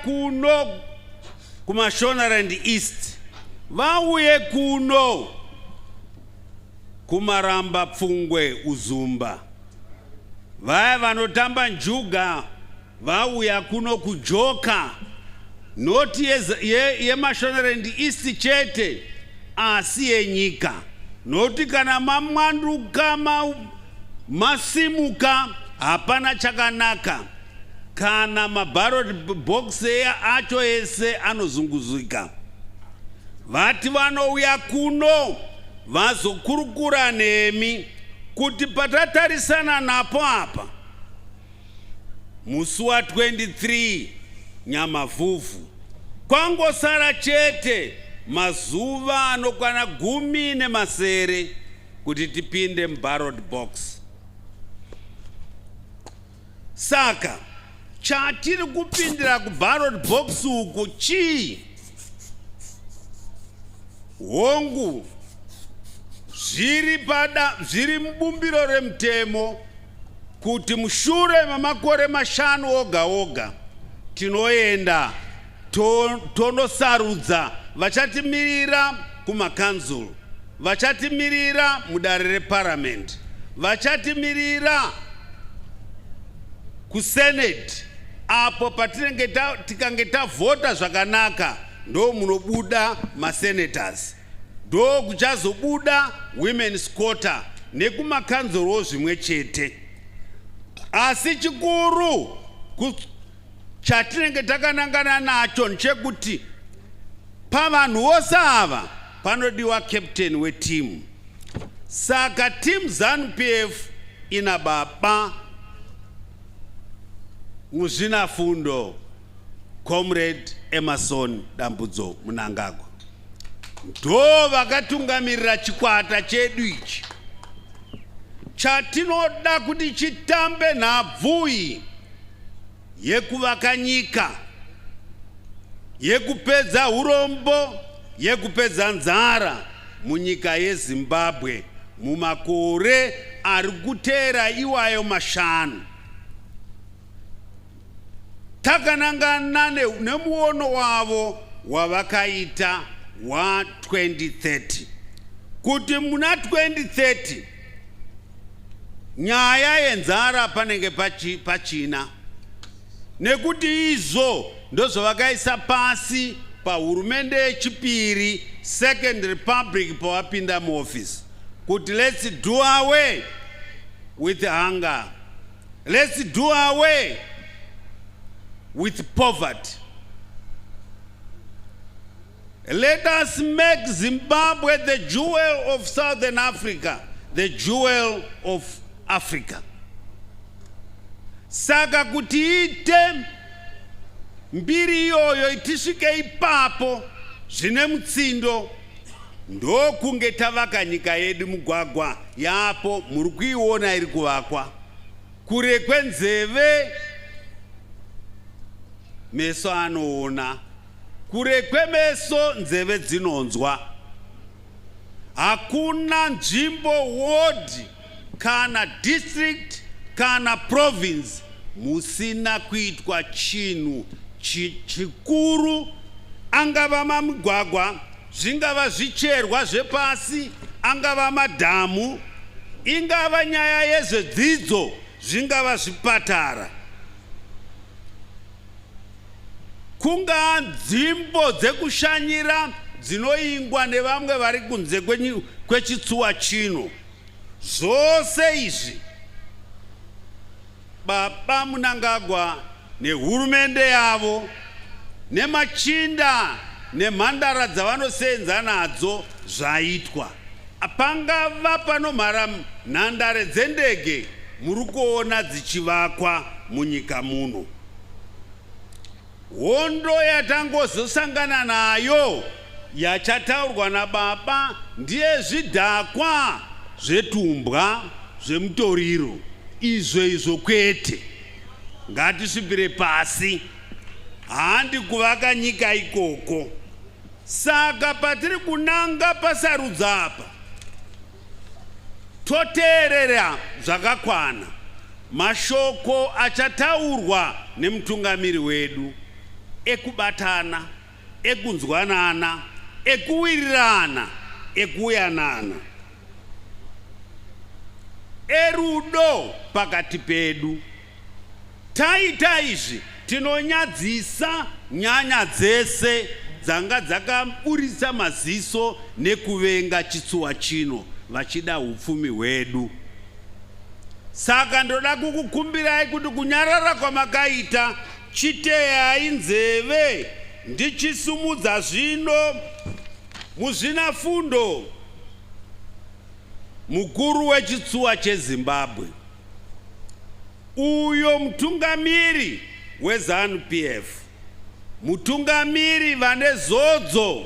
kuno kuMashonaland East vauye kuno kumaramba pfungwe uzumba vaya vanotamba njuga vauya kuno kujoka noti yemashonerend ye, ye east chete asi yenyika noti kana mamwanduka ma, Masimuka hapana chakanaka kana mabarot box eya acho ese anozunguzika vati vanouya kuno vazokurukura nemi kuti patatarisana napo apa musi wa 23 nyamavhuvhu kwangosara chete mazuva anokwana gumi nemasere kuti tipinde mubarrod box saka chatiri kupindira kubarrod box uku chii hongu zviri pada zviri mubumbiro remutemo kuti mushure memakore mashanu oga oga tinoenda Tonosarudza vachatimirira kumakanzuru, vachatimirira mudare reparamende, vachatimirira kuseneti apo patinenge tikange tavhota zvakanaka ndo munobuda masenators ndo kuchazobuda women's quarter nekumakanzorowo zvimwe chete asi chikuru Chatinenge takanangana nacho ndechekuti pavanhu vose ava panodiwa captain wetimu. Saka team ZanuPF ina baba Muzvinafundo Comrade Emerson Dambudzo Munangagwa ndo vakatungamirira chikwata chedu ichi chatinoda kuti chitambe nhabvu iyi yekuvaka nyika, yekupedza urombo, yekupedza nzara munyika yeZimbabwe mumakore ari kuteera iwayo mashanu. Takanangana nemuono wavo wavakaita wa 2030 kuti muna 2030 nyaya yenzara panenge pachi, pachina nekuti izvo ndozvavakaisa pasi pahurumende yechipiri second republic pawapinda muoffice kuti let's do away with hunger let's do away with poverty Let us make Zimbabwe the jewel of Southern Africa, the jewel of Africa. Saka kuti ite mbiri iyoyo itisvike ipapo zvine mutsindo ndokunge tavaka nyika yedu mugwagwa yapo muri kuiona iri kuvakwa kure kwenzeve meso anoona Kure kwemeso nzeve dzinonzwa. Hakuna nzvimbo, ward kana district kana province musina kuitwa chinhu chikuru angava mamigwagwa zvingava zvicherwa zvepasi angava madhamu ingava nyaya yezvedzidzo zvingava zvipatara kungaa nzimbo dzekushanyira dzinoingwa nevamwe vari kunze kwechitsuwa chino zvose izvi baba munangagwa nehurumende yavo nemachinda nemhandara dzavanoseenza nadzo zvaitwa Pangava panomhara nhandare dzendege muri kuona dzichivakwa munyika muno. Hondo yatangozosangana nayo yachataurwa nababa ndiye zvidhakwa zvetumbwa zvemutoriro izvo izvo kwete ngatisvipire pasi handi kuvaka nyika ikoko Saka patiri kunanga pasarudzo apa toteerera zvakakwana mashoko achataurwa nemutungamiri wedu ekubatana, ekunzwanana, ekuwirirana, ekuyanana, erudo pakati pedu. Taita izvi tinonyadzisa nyanya dzese dzanga dzakaburitsa maziso nekuvenga chitsuwa chino vachida upfumi hwedu. Saka ndoda kukukumbirai kuti kunyarara kwamakaita chiteyai nzeve ndichisumudza zvino muzvina fundo mukuru wechitsuwa chezimbabwe Uyo mutungamiri weZanu PF, mutungamiri vane zodzo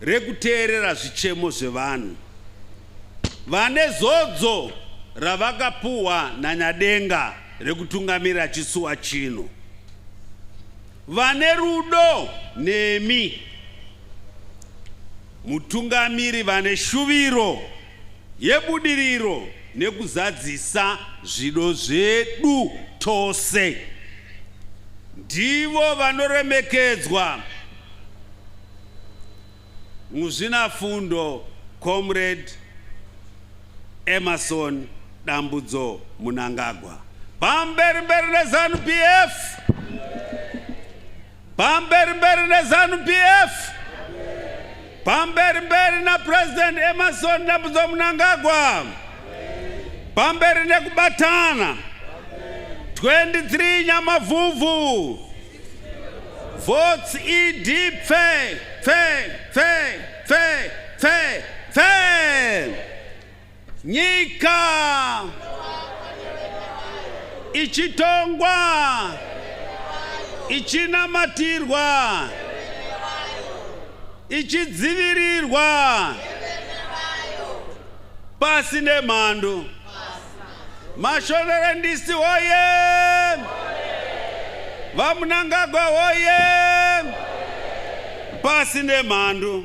rekuteerera zvichemo zvevanhu, vane zodzo ravakapuhwa naNyadenga rekutungamira chisuwa chino, vane rudo nemi mutungamiri vane shuviro yebudiriro nekuzadzisa zvido zvedu tose. Ndivo vanoremekedzwa muzvinafundo Comrade Emerson Dambudzo Munangagwa. Pamberi mberi neZanu PF. Pamberi mberi neZanu PF. Pamberi mberi na President Emerson Dambudzo Mnangagwa. Pamberi nekubatana. 23 Nyamavhuvhu. Votes ED pfe pfe pfe pfe pfe pfe. Nyika ichitongwa ichinamatirwa ichidzivirirwa pasi nemhando mashorerendisi woye vamunangagwa woye pasi nemhando